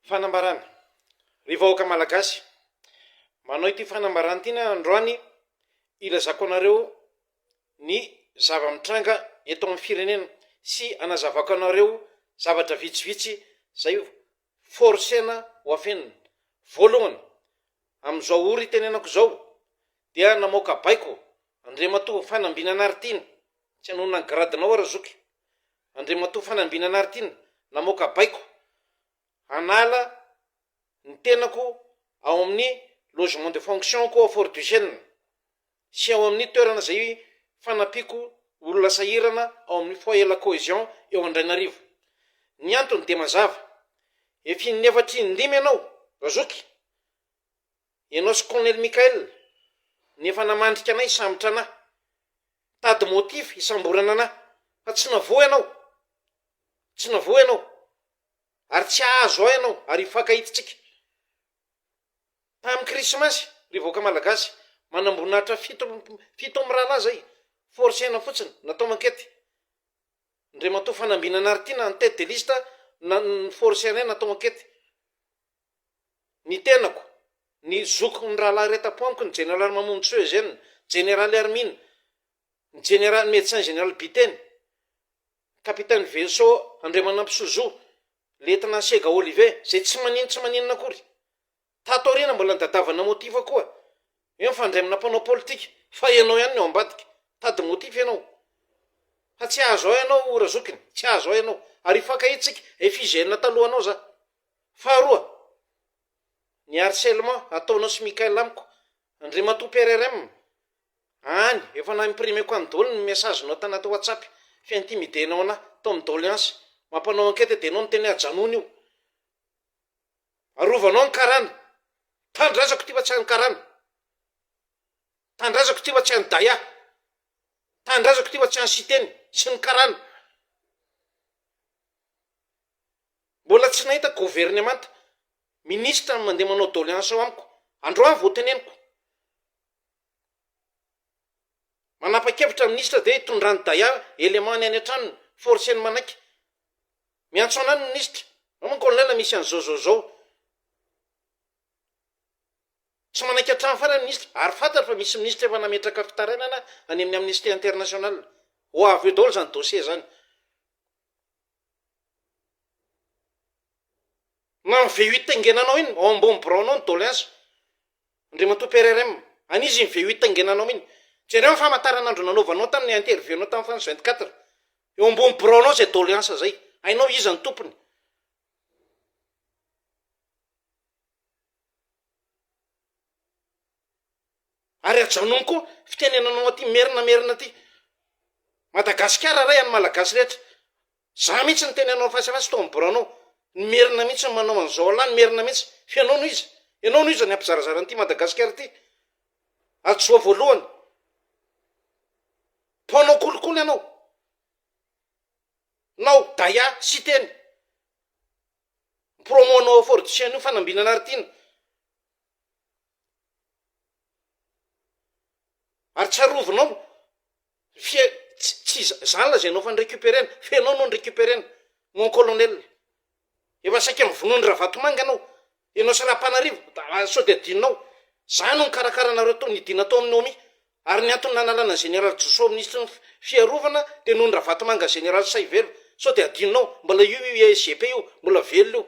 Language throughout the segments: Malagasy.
Fanambarana, Ry vahoaka Malagasy, manao ity fanambarana ity aho androany hilazako anareo ny zava-mitranga eto amin'ny firenena sy hanazavako anareo zavatra vitsivitsy izay forcena ho afenina. Voalohany, amin'izao ora itenenako izao dia namoaka baiko Andriamatoa Fanambinanaritiana, tsy hanohina ny gradinao aho Razoky, Andriamatoa Fanambina Naritina, namoaka baiko hanala ny tenako ao amin'ny logement de fonction-ko ao Fort Duchesne sy ao amin'ny toerana izay fanampiako olona sahirana ao amin'ny Foyer La Cohesion eo Andrainarivo. Ny antony dia mazava, efa in'ny efatra in'ny lima ianao, Razoky, Ianao sy Colonel Michael no efa namandrika anay hisambotra anà. Mitady motif hisamborana anà. Fa tsy navoa ianao. Tsy navoa ianao. Ary tsy hahazo ahy ianao, ary hifankahidintsika. Tamin'ny Krismasy, ry vahoaka Malagasy, manamboninahitra fito, fito mirahalahy izay, force aina fotsiny, natao enquête. Ndriamatoa Fanambinana Aritiana en tête de liste, na, ny force anay natao enquête. ny tenako, ny zokiko, ny rahalahy iray tapo amiko, ny jeneraly Mamontsoa Eugène, ny jeneraly Hermine, ny jeneraly Médecin Général Biteny, ny kapiteny Vaisseau Andriamanampo Sozoa, lietnà Sega Olive, izay tsy manino tsy maninona akory. Tato aoriana mbola nidadavana motif koa. Io mifandray amina mpanao politika, fa ianao ihany no ao ambadika. Mitady motif ianao. Fa tsy hahazo ahy ianao Razokiny, tsy hahazo ahy ianao. Ary hifankahitsika, FIGN talohanao za. Faharoa, ny harcèlement ataonao sy Mickaël amiko, Andriamatoa PRRM, any efa na-imprimeko any daholo ny message nao tanaty WhatsApp fi-intimider-nao anà tao amin'ny doléance mampanao enquête dia ianao niteny hoe ajanony io, arovanao ny karana, tanindrazako ity fa tsy an'ny karana, tanindrazako ity fa tsy an'ny daya, tanindrazako ity fa tsy an'i Siteny sy ny karana. Mbola tsy nahita governemanta, ministra no mandeha manao doléance ao amiko, androany vao teneniko. Manapa-kevitra ny ministra dia hitondrany daya élément-ny any an-tranony, forcer-ny manaiky. Miantso anay ny ministra, ao moa ny colonel misy an'izao zao zao. Tsy manaiky hatramin'ny farany ny ministra, ary fantatro fa misy ministra efa nametraka fitarainana any amin'ny Amnesty International. Ho avy eo daholo izany dossier izany. Na ny VUT taingenanao iny ao ambony biraonao ny doléance, Andriamatoa PRRM, an'iza iny VUT taingenanao iny? Jereo ny famantaranandro nanaovanao tamin'ny interview nao tamin'ny France 24, eo ambony biraonao izay doléance izay, hainao iza ny tompony. ary ajanony koa fitenenanao aty merina merina aty madagasikara ray any malagasy rehetra za mihitsy ny teny anao fasy fasy tao am boranao ny merina mihitsy ny manao an'izao alah ny merina mihitsy fa ianao no iza ianao no iza ny ampizarazara an'ity madagasikara ity ajoa voalohany mpanao kolikoly ianao nao daya siteny promo nao fortisian'io fanambinana ary tiana Ary tsarovinao, f'ie tsy tsy za zany lazainao efa ni-recuperer-na, fa ianao no ni-recuperer-na, mon colonel. Efa saika mivonoan'i Ravatomanga ianao, ianao sy Rapanarivo, da sao dia adinonao. Za no nikarakara anareo tao, nidina tao amin'ny Nomi, ary ny antony nanalana ny Général Joso Minisitry ny fi- Fiarovana dia noho ny Ravatomanga Général Saivela, sao dia adinonao, mbola io io IGP io, mbola velona io.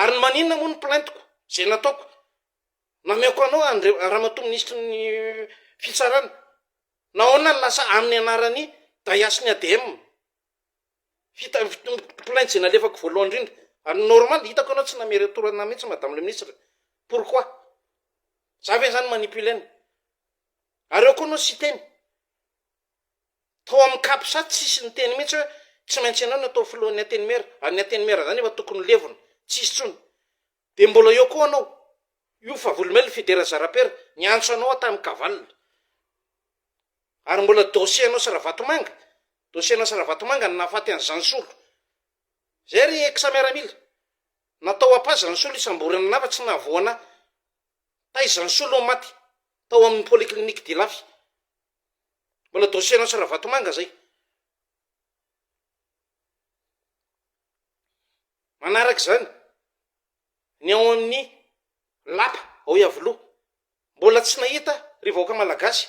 Ary ny maninona moa ny plainte-ko, izay nataoko? Nameako anao Andri- Ramatoa Minisitry ny Fitsarana. Nahoana no lasa amin'ny anaran'i Daya sy ny ADM ny fita- plainte izay nalefako voalohany indrindra? Ary normal, hitako ianao tsy namery retour an'ahy mihitsy Madame le Ministre. Pourquoi? Za ve izany manipuler-na? Ary ao koa ianao siteny. Tao amin'ny Capsat tsisy niteny mihitsy hoe tsy maintsy ianao no atao filohan'ny Antenimiera, ary ny Antenimiera izany efa tokony ho levona, tsy hisy intsony. Dia mbola eo koa anao, io Favolomelina Fidera Zarapera niantso anao aho tamin'ny Kaval. Ary mbola dossier anao sy Ravatomanga, dossier anao sy Ravatomanga no nahafaty an'i Zansolo. Izay ry Ex Miaramila. Natao apa Zansolo hisamborana anah fa tsy nahavoa anah. Taiza Zansolo no maty? Tao amin'ny Polyclinique d'Ilafy. Mbola dossier an'i Ravatomanga zay. Manaraka izany, ny ao amin'ny lapa ao Iavoloha, mbola tsy nahita ry vahoaka malagasy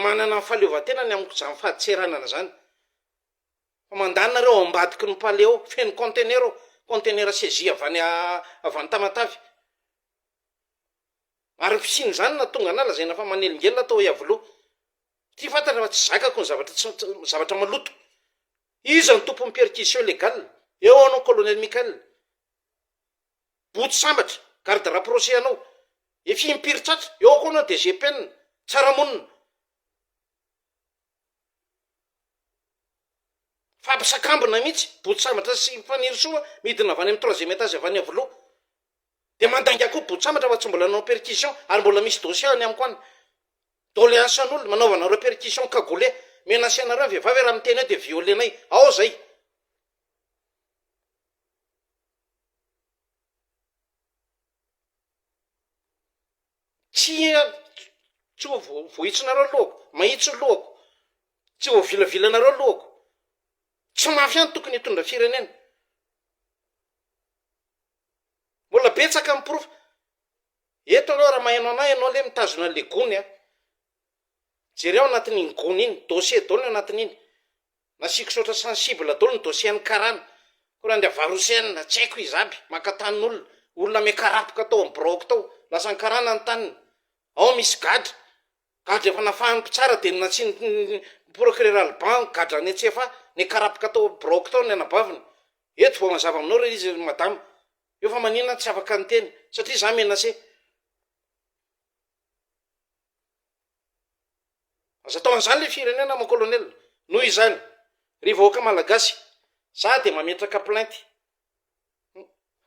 manana ny fahaleovantena ny amin'ny izany fadintseranana izany, fa mandany nareo ao ambadiky ny palais ao, feno contenaire ao, contenaire saisie avy any avy any Tamatave. Ary ny fisian'izany no nahatonga anà lazaina fa manelingelina tao Iavoloha. Ty fantatra fa tsy zakako ny zavatra tsy tsy zavatra maloto. Iza no tompon'ny perquisition légale? Eo anao Colonel Michael. Boto sambatra, garde rapproché anao. Efa impiry tratra. Eo koa anao DG Penina. Tsara monina. Fampisakambina mihitsy. Boto sambatra sy Fanirisoa midina avy any amin'ny troisième étage avy any Iavoloha. Dia mandainga koa botsambatra fa tsy mbola nanao perquisition ary mbola misy dossier any amiko any. Doléance an'olona, manaovanareo perquisition cagoulé. Menacer anareo ny vehivavy hoe raha miteny eo dia violer-nay. Ao izay. Tsy tsy ho vohitsinareo ny lohako. Mahitsy ny lohako. Tsy voavilavilanareo ny lohako. Tsy mafy ihany tokony hitondra firenena. Mbola betsaka ny porofo. Eto aloha raha maheno anah ianao le mitazona an'le gony a, jereo anatin'iny gony iny, dossier daholo ny anatin'iny, nasiako saotra sensible daholo ny dossier an'ny karana, koa raha ny avarosenina, tsy haiko izy aby, maka tanin'olona, olona miakarapoka tao amin'ny biraoko tao, lasan'ny karana ny taniny, ao misy gadra, Gadra efa nafahan'ny mpitsara dia nantsindrin'ny procureur Alban gadra any an-tsefa niakarapaka tao biraoko tao ny anabaviny. Eto vao mazava aminao re izy ry madama. Eo fa maninona aho tsy afaka niteny satria izaho menacé. Aza atao an'izany ilay firenena mon colonel. Noho izany, ry vahoaka malagasy, izaho dia mametraka plainte.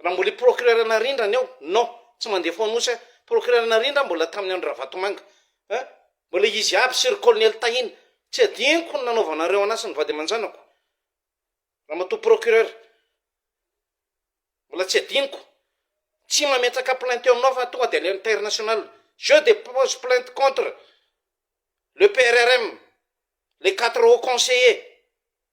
Raha mbola i procureur Narindra ny ao, non, tsy mandeha fo Anosy aho, procureur Narindra mbola tamin'ny andro Ravatomanga, eh, mbola izy aby sy ry colonel Tahina, tsy adinoko ny nanaovanareo an'asa ny vady aman-janako, ramatoa procureur, mbola tsy adinoko, tsy mametraka plainte eo aminao fa tonga dia any international, je dépose plainte contre le PRRM, les quatre hauts conseillers.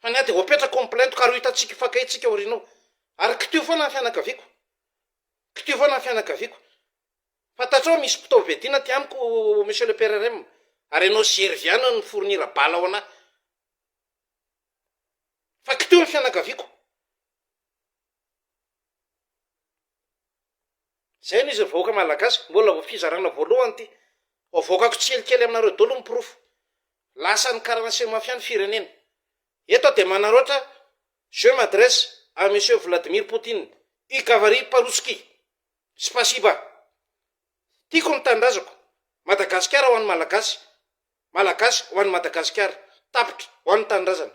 Fa ny ahy dia ho apetrako amin'ny plainte ka ary ho hitantsika hifankahitsika ao aoriana ao. Ary kitio foana ny fianakaviako. Kitio foana ny fianakaviako. Fantatrao misy mpitaovy viadina aty amiko Monsieur le PRRM. Ary ianao sy Hery Viana no mi-fournir bala ho an'ahy. Fa kitio ny fianakaviako. Zay no izy ry vahoaka malagasy, mbola vao fizarana voalohany ity, vao avoakako tsielikely aminareo daholo ny porofo, lasan'ny karana sy ny mafia ny firenena, eto aho dia manaraotra je m'adresse à monsieur Vladimir Poutine i gavary parouski, spasiba, tiako ny tanindrazako, Madagasikara ho an'ny malagasy, malagasy ho an'i Madagasikara, tapitra ho an'ny tanindrazana.